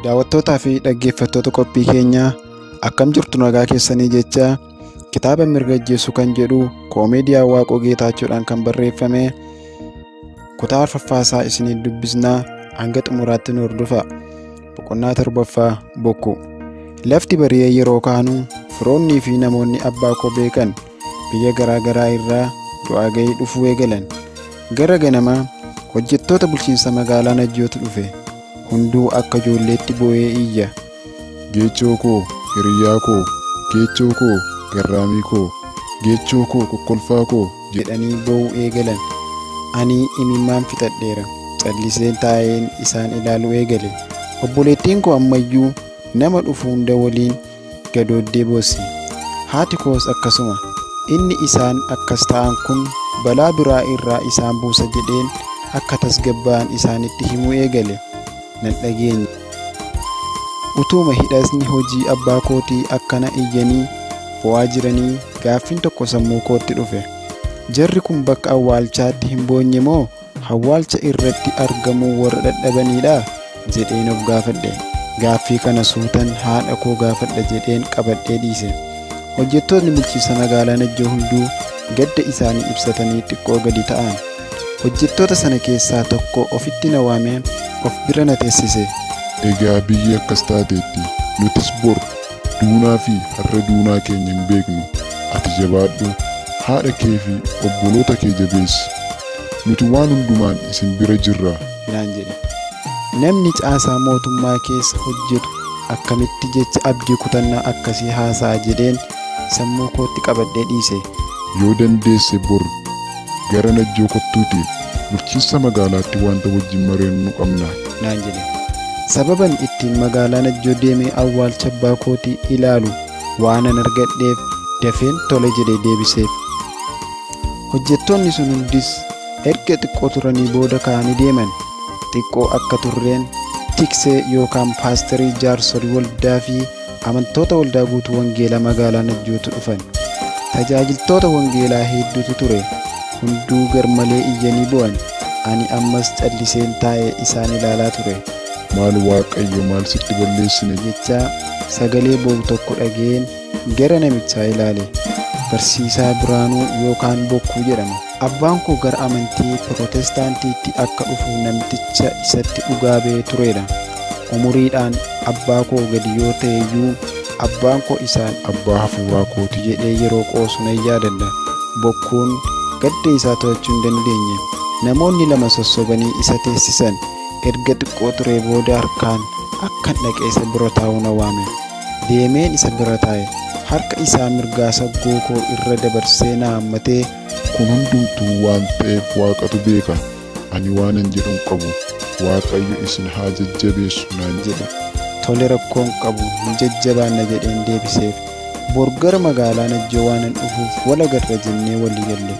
Daawwattootaa fi dhaggeeffattoota qophii keenyaa akkam jirtu nagaa keessanii jecha kitaaba mirga ajjeessu kan jedhu koomeediyaa Waaqoo Geetaachoodhaan kan barreeffame kutaa arfaffaasaa isiniif dubbisnaa hanga xumuraatti nu hordofa. Boqonnaa torbaffaa bokkuu. Lafti bari'ee yeroo kaanu firoonnii fi namoonni abbaa koo beekan biyya garaa garaa irraa du'aa ga'ii dhufuu eegalan. Gara ganamaa hojjettoota bulchiinsa magaalaa Najjootu dhufe. Hunduu akka ijoolleetti boo'ee iyya. Geechoo koo, hiriyaa koo, geechoo koo, garraamii koo, geechoo koo, kokkolfaa koo jedhanii boo'uu eegalan. Ani imimmaan fixadheera. Calliseen taa'een isaan ilaaluu eegale. Obboleettiin koo ammayyuu nama dhufu hunda waliin gadooddee boosse. Haati koos akkasuma. Inni isaan akkas ta'an kun balaa biraa irraa isaan buusa jedheen akka tasgabbaa'an isaanitti himuu eegale. Nan dhageenye. Utuuma hidhasni hojii abbaa kootii akkana iyyanii boo'aa jiranii gaaffiin tokko sammuu kootti dhufe. Jarri kun bakka awwaalchaatti hin boonye moo Hawwaalcha irratti argamuu warra dhadhabaniidhaa? jedheen of gaafadhe. Gaaffii kana suutan haadha koo gaafadha jedheen qabadhee dhiise. Hojjettootni bulchiinsa magaalaa Najjoo hunduu gadda isaanii ibsatanii xiqqoo gadi ta'an. Hojjettoota sana keessaa tokko ofitti na waamee of bira na teessise. Egaa biyyi akkas taateetti. Nutis bor. duunaa fi har'a duunaa keenya hin beeknu ati jabaadhu haadha kee fi obboloota kee jabeessi nuti waan hundumaan isin bira jirra naan jedhe. Namni caasaa mootummaa keessa hojjetu akkamitti jecha abdii kutannaa akkasii haasa'a jedheen sammuu kootti qabadhee dhiise. Yoo dandeesse bor Gara Najjoo kottuuti bulchiinsa magaalaatti wanta wajjin mari'annu qabna. naan jedhe. Sababan ittiin magaalaa Najjoo deemee awwaalcha abbaa kootii ilaalu waanan argadheef dafeen tole jedhee deebiseef. Hojjettoonni sun hundis erga xiqqoo turanii booda ka'anii deeman. Xiqqoo akka turreen tiksee yookaan paasterii jaarsolii waldaa fi Amantoota Waldaa Guutuu Wangeelaa Magaalaa Najjootu dhufan. Tajaajiltoota Wangeelaa hedduutu ture. Hunduu garmalee iyyanii boo'an. Ani ammas calliseen taa'ee isaan ilaalaa ture. Maal Waaqayyo maal sitti balleessine? jechaa sagalee boo'u tokko dhaga'een gara namichaa ilaale. Barsiisaa Biraanuu yookaan Bokkuu jedhama. Abbaan koo gara amantii Pirootestaantiitti akka dhufu namticha isatti dhugaa ba'ee tureera. Umuriidhaan abbaa koo gadi yoo ta'e iyyuu, abbaan koo isaan abbaa hafuuraa kooti jedhee yeroo qoosu nan yaadadha. Bokkuun gadda isaa to'achuu hin dandeenye. Namoonni lama sossobanii isa teessisan. Erga xiqqoo turee booda harkaan akkan dhaqee isa bira taa'u na waame. Deemeen isa bira taa'e. Harka isaa mirgaa saggoo koo irra dabarsee na hammatee Kun hundumtuu waan ta'eef Waaqatu beeka, ani waanan jedhu hin qabu. Waaqayyo isin haa jajjabeessu naan jedhe. Tole rakkoo hin qabu, ni jajjabaanna jedheen deebiseef. Bor gara magaalaa Najjoo waanan dhufuuf wal agarra jennee walii galle.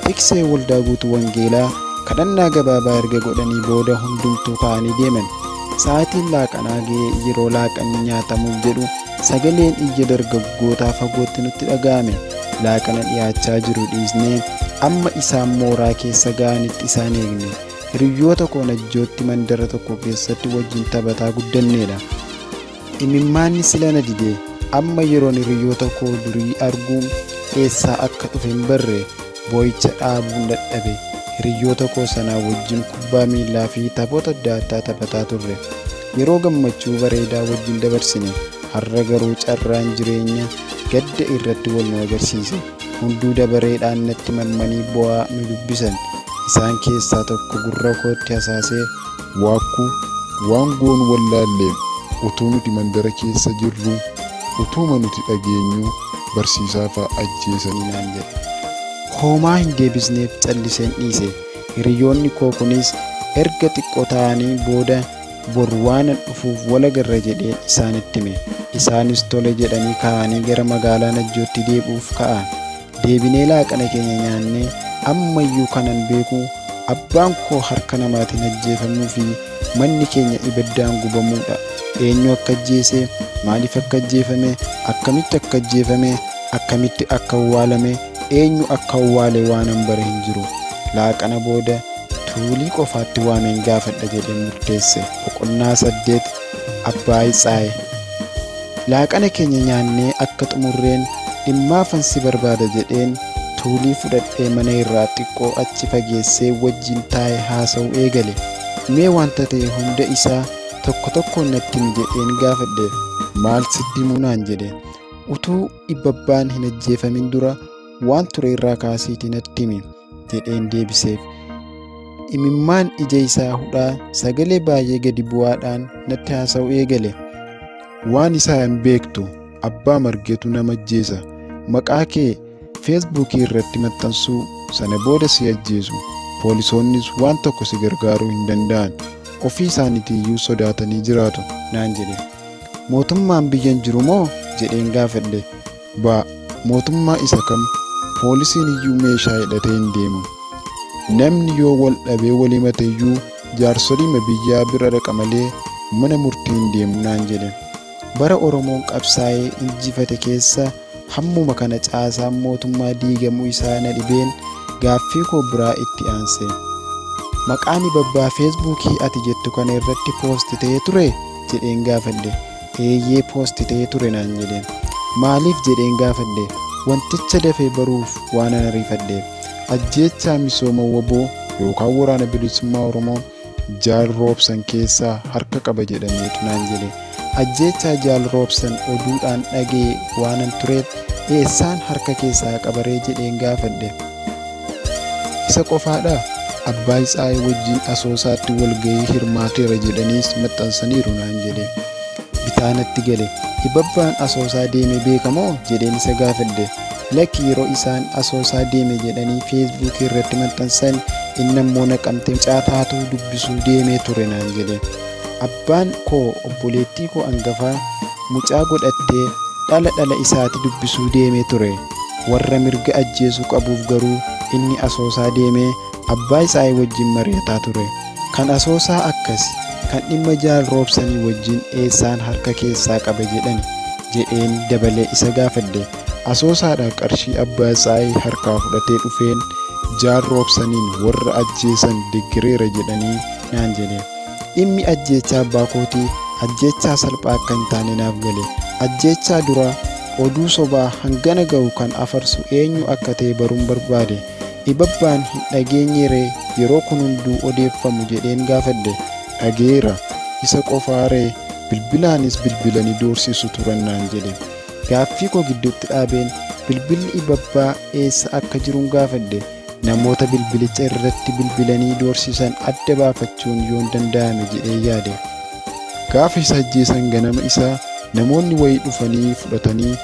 Tiksee Waldaa Guutuu Wangeelaa kadhannaa gabaabaa erga godhanii booda hundumtuu ka'anii deeman. Sa'aatiin laaqanaa ga'ee yeroo laaqanni nyaatamuuf jedhu Sagaleen iyya dargaggootaa fagootti nutti dhaga'ame. Laaqana dhiyaachaa jiru dhiisnee amma isaan mooraa keessa ga'anitti isaan eegne. Hiriyyoota koo Najjootti mandara tokko keessatti wajjin taphataa guddanneedha. Imimmaanni sila na dide. Amma yeroon hiriyyoota koo durii arguu eessaa akka dhufe hin barre. Boo'icha dhaabuun dadhabe. Hiriyyoota koo sanaa wajjin kubbaa miillaa fi taphoota adda addaa taphataa turre. Yeroo gammachuu bareedaa wajjin dabarsine. Har'a garuu carraan jireenya gadda irratti wal nu agarsiise. Hunduu dabareedhaan natti marmanii boo'aa nu dubbisan. Isaan keessaa tokko gurra kootti hasaasee Waakkuu, Waan goonu wallaalleem, utuu nuti mandara keessa jirruu, utuuma nuti dhageenyuu barsiisaa fa'a ajjeesanii naan jedhe. Homaa hin deebisneef calliseen dhiise. Hiriyoonni koo kunis erga xiqqoo taa'anii booda bor waanan dhufuuf wal agarra jedheen isaanitti hime. Isaanis tole jedhanii ka'anii gara magaalaa Najjootti deebi'uuf ka'an. Deebinee laaqana keenya nyaannee ammayyuu kanan beeku abbaan koo harka namaatiin ajjeefamuu fi manni keenya ibiddaan gubamuudha. Eenyu akka ajjeese, maaliif akka ajjeefame, akkamitti akka ajjeefame, akkamitti akka awwaalame, eenyu akka awwaale waanan bare hin jiru. Laaqana booda Tuulii qofaatti waameen gaafadha jedhee murteesse. Boqonnaa 8 Abbaay Tsaay. Laaqana keenya nyaannee akka xumurreen dhimmaafan si barbaada jedheen tuulii fudhadhee mana irraa xiqqoo achi fageessee wajjin taa'e haasa'uu eegale. Mee wanta ta'e hunda isaa tokko tokkoon natti himi jedheen gaafadhe. Maal sitti himuu naan jedhe. Utuu dhibbabbaan hin ajjeefamin dura waan ture irraa kaasiitii natti himi. jedheen deebiseef. Imimmaan ija isaa hudhaa sagalee baay'ee gadi bu'aadhaan natti haasa'u eegale. Waan isaa hin beektu abbaa margeetu nama ajjeesa. Maqaa kee feesbuukii irratti maxxansuu sana booda si ajjeesu. Poolisoonnis waan tokko si gargaaruu hin danda'an. Ofii isaaniitiiyyuu sodaatanii jiraatu naan jedhe. Mootummaan biyyan jiru moo jedheen gaafadhe. Ba, mootummaa isa kam poolisiin iyyuu meeshaa hidhatee hin deemu. Namni yoo wal dhabee wal himate iyyuu jaarsoliima biyyaa bira dhaqa malee mana murtii hin deemu naan jedhe. Bara Oromoon qabsaa'ee injifate keessa hammuma kana caasaan mootummaa diigamuu isaa na dhibeen gaaffii koo biraa itti aanse. Maqaa Nibabbaa Feesbuukii ati jettu kana irratti poosti ta'ee ture? jedheen gaafadhe. Eeyyee post ta'ee ture naan jedheen. Maaliif jedheen gaafadhe wanticha dafee baruuf waanan ariifadheef. Ajjeechaa misooma wbo yookaan waraana bilisummaa Oromoo Jaal Roobsan keessaa harka qaba jedhameetu naan jedhe. Ajjeechaa Jaal Roobsan oduudhaan dhaga'e waanan tureef eessaan harka keessaa qabaree jedheen gaafadhe. Isa qofaadhaa? Abbaay Tsaay wajjin Asoosaatti walgahii hirmaateera jedhaniis maxxansaniiru naan jedhe. Bitaa natti gale. Ibabbaan Asoosaa deeme beeka moo? jedheen isa gaafadhe. Lakki yeroo isaan Asoosaa deeme jedhanii Feesbuukii irratti maxxansan inni ammoo Naqamtee mucaa taatuu dubbisuu deemee ture naan jedhe. Abbaan koo obboleettii koo angafaa mucaa godhattee dhala dhala isaati dubbisuu deemee ture. Warra mirga ajjeesuu qabuuf garuu inni asoosaa deemee abbaa isaai wajjin mari'ataa ture. Kan asoosaa akkasi, kan dhimma Jaal Roobsanii wajjin eessaan harka keessaa qaba jedhani? jedheen dabalee isa gaafadhe. Asoosaadhaa qarshii abbaa isaai harkaa fudhatee dhufeen Jaal Roobsaniin warra ajjeesan deggereera jedhanii naan jedhe. Dhimmi ajjeechaa abbaa kootii ajjeechaa salphaa akka hin taane naaf gale. Ajjeechaa dura Oduu sobaa hangana gahu kan afarsu eenyu akka ta'e baruun barbaade. Ibabbaan hin dhageenyee ree yeroo kun hunduu odeeffamu jedheen gaafadhe. Dhagayeera. Isa qofaa ree? Bilbilaanis bilbilani doorsisu turan naan jedhe. Gaaffii koo gidduutti dhaabeen bilbilli Ibabbaa eessa akka jirun gaafadhe. Namoota bilbilicha irratti bilbilanii doorsisan adda baafachuun yoon danda'ame jedhee yaade. Gaafa isa ajjeesan ganama isaa namoonni wayii dhufanii fudhatanii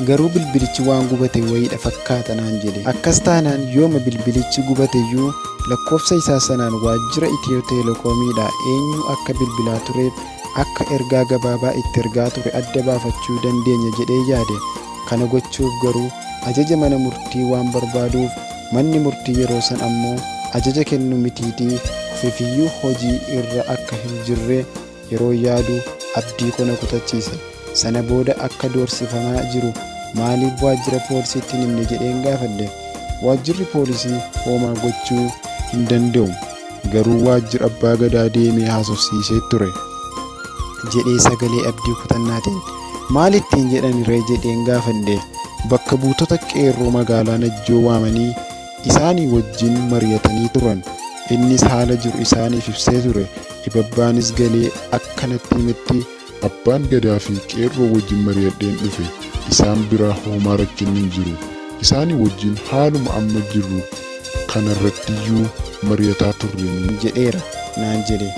garuu bilbilichi waan gubate wayiidha fakkaata naan jedhe. Akkas taanaan yooma bilbilichi gubateyyuu lakkoofsa isaa sanaan waajjira Itiyoo Teelekoomiidha eenyu akka bilbilaa tureef akka ergaa gabaabaa itti ergaa ture adda baafachuu dandeenya jedhee yaade. Kana gochuuf garuu ajaja mana murtii waan barbaaduuf manni murtii yeroo san ammoo ajaja kennu mitiitii ofifiyyuu hojii irra akka hin jirre yeroon yaadu abdii ko na kutachiise. Sana booda akka doorsifamaa jiru maaliif waajjira poolisiitti hin himne jedheen gaafadhe. Waajjirri poolisii hoomaa gochuu hin danda'u. Garuu waajjira abbaa gadaa deemee haasofsiisee ture. jedhee sagalee abdii kutannaatiin. Maal ittiin jedhani ree jedheen gaafadhe. Bakka buutota qeerroo magaalaa Najjoo waamanii isaanii wajjin mari'atanii turan. Innis haala jiru isaaniif ibsee ture. Dhibabbaanis galee akka natti himetti Abbaan Gadaa fi Qeerroo wajjin mari'adheen dhufe. Isaan biraa hoomaa rakkinni hin jiru. Isaanii wajjin haaluma amma jirru kanarrattiyyuu mari'ataa turre nu. jedheera naan jedhe.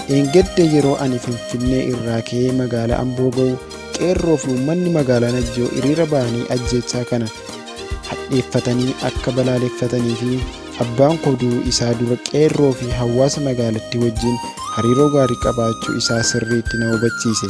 Dheengadda yeroo ani Finfinnee irraa ka'ee magaala Amboo ga'u Qeerroo fi uummanni magaalaa Najjoo hiriira ba'anii ajjeechaa kana hadheeffatanii akka balaaleffatanii fi Abbaan koo du'uu isaa dura qeerroo fi hawaasa magaalattii wajjin hariiroo gaarii qabaachuu isaa sirriitti na hubachiise.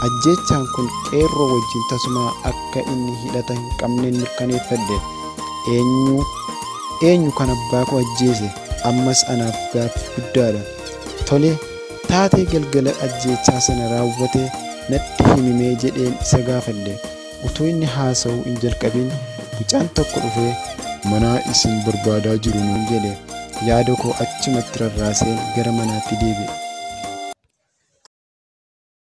Ajjeechaan kun qeerroo wajjin tasumaa akka inni hidhata hin qabneen mirkaneeffadhe. Eenyu eenyu kan abbaa koo ajjeese ammas anaaf gaaffii guddaadha. Tole taatee galgala ajjeechaa sana raawwate natti himimee jedheen isa gaafadhe. Utuu inni haasa'uu hin jalqabin mucaan tokko dhufee manaa isin barbaadaa jiru nuun jedhe. Yaada koo achumatti rarraaseen gara manaatti deebi'e.